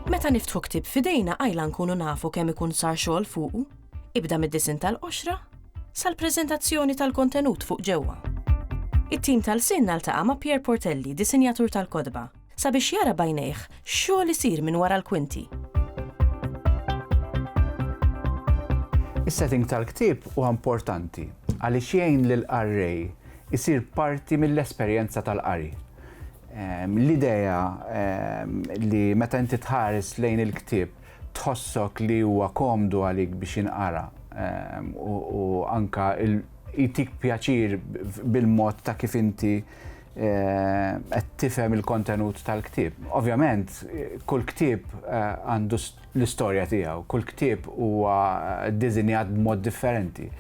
Meta niftħu ktieb f'idejna qajla nkunu nafu kemm ikun sar xogħol fuqu, ibda mid-disinn tal-qoxra sal-preżentazzjoni tal-kontenut fuq ġewwa. It-tim tal-sin naltaqa' ma' Pierre Portelli, disinjatur tal-kotba, sabiex jara b'għajnejh x'xogħol isir minn wara l-kwinti. Is-setting tal-ktieb huwa importanti għaliex jgħin lill-qarrej isir parti mill-esperjenza tal-qari. L-idea li meta inti tħares lejn il-ktieb tħossok li huwa komdu għalik biex jinqara u anke jtik pjaċir bil-mod ta' kif inti qed tifhem il-kontenut tal-ktieb. Ovvjament, kull ktieb eh, għandu l-istorja tiegħu, kull ktieb huwa eh, dizinjat b'mod differenti.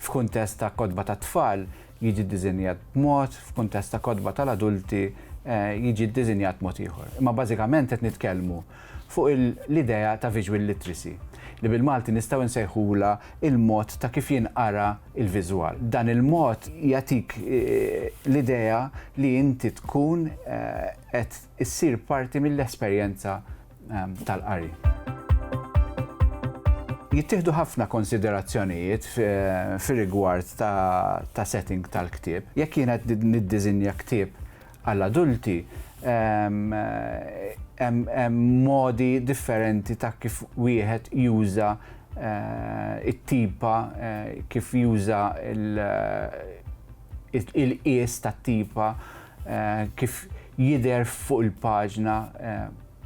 F'kuntest ta' kodba ta' tfal jiġi dizinjat b'mod, f'kuntest ta' kodba tal-adulti eh, jiġi dizinjat mod ieħor. Imma bażikament qed nitkellmu fuq l-idea ta' visual literacy, li bil-Malti nistgħu nsejħulha l-mod ta' kif jinqara l-viżwal. Dan il-mod jagħtik l-idea li inti tkun qed issir parti mill-esperjenza tal-qari. Jittieħdu ħafna konsiderazzjonijiet fir-rigward ta' setting tal-ktieb. Jekk jiena qed niddiżinja ktieb, Għall-adulti, hemm modi differenti ta' kif wieħed juża t-tipa, kif juża l-qies tat-tipa, kif jidher fuq il-paġna.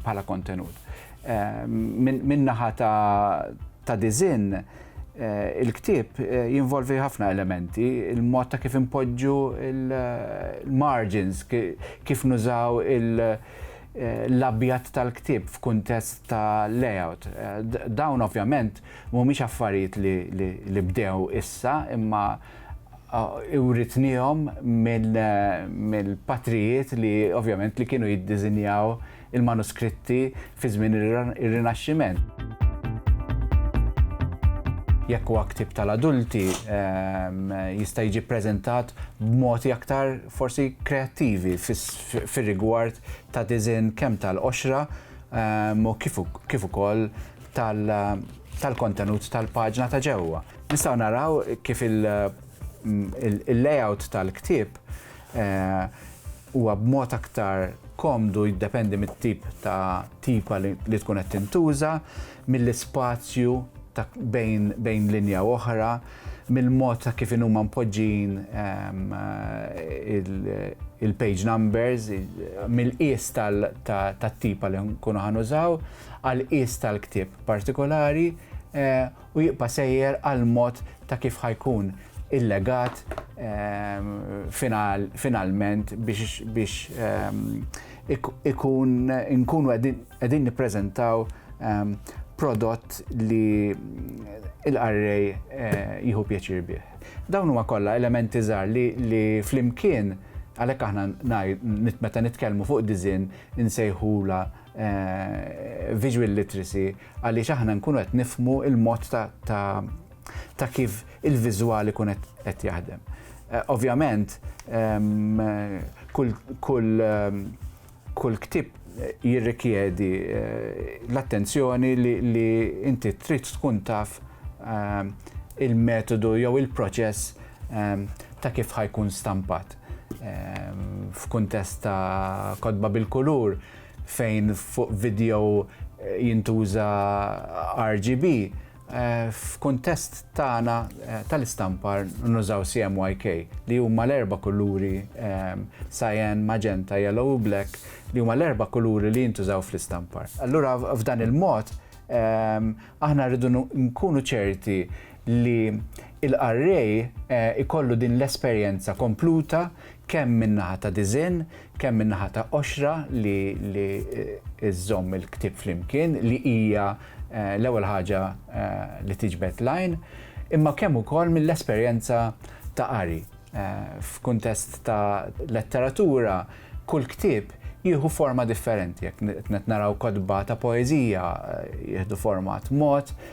bħala kontenut. Eh, Minn naħa ta' dizin, eh, il-ktib eh, jinvolvi ħafna elementi, il-mod ta' kif impoġġu il-margins, kif nużaw l-abjat tal-ktib f'kuntest ta' layout. Dawn ovvjament mhumiex affarijiet li bdew issa, imma Uritnihom mill-patrijiet li ovvjament li kienu jiddiżinjaw il-manuskritti fi żmien ir-Rinaxximent. Jekk huwa ktieb tal-adulti, jista' jiġi ppreżentat b'modi aktar forsi kreattivi fir-rigward ta' disinn kemm tal-qoxra u kif ukoll tal-kontenut tal-paġna ta' ġewwa. Nistgħu naraw kif il-layout tal-ktieb eh, huwa b'mod aktar komdu jiddependi mit-tip ta' tipa li tkun qed tintuża, mill-ispazju bejn linja u oħra, mill-mod ta' kif huma mpoġġin ehm, il-page numbers, mill-qies tat-tipa li nkunu ħanużaw. għal qies tal-ktieb partikolari u jibqa' sejjer għall-mod ta' kif ħa jkun il-legat finalment biex ikun inkunu qegħdin nippreżentaw prodott li l-qarrej jieħu pjaċir bih. Dawn huma kollha elementi żgħar li flimkien għalhekk aħna meta nitkellmu fuq disinn insejħulha visual literacy għaliex aħna nkunu qed nifmu il-mod ta' kif il-viżwali kun qed jaħdem. Eh, ovvjament, ehm, kull ehm, kull ktib eh, jirrikjedi eh, l-attenzjoni li inti trid tkun taf ehm, il-metodu jew il-proċess ta' kif ħajkun stampat. F'kuntest ta' kodba bil-kulur, fejn fuq video jintuża RGB, f'kuntest tagħna tal-istampar nużaw CMYK li huma l-erba' kuluri, cyan, magenta, yellow u black, li huma l-erba' kuluri li jintużaw fl-istampar. Allura f'dan il-mod aħna rridu nkunu ċerti li l-qarrej ikollu din l-esperjenza kompluta kemm min-naħa ta' disinn, kemm min-naħa ta' qoxra li żżomm il-ktieb flimkien li hija l-ewwel ħaġa li tiġbed l-għajn, imma kemm ukoll mill-esperjenza ta' qari. F'kuntest ta' letteratura kull ktieb jieħu forma differenti, jekk qed naraw kotba ta' poeżija jieħdu format mod,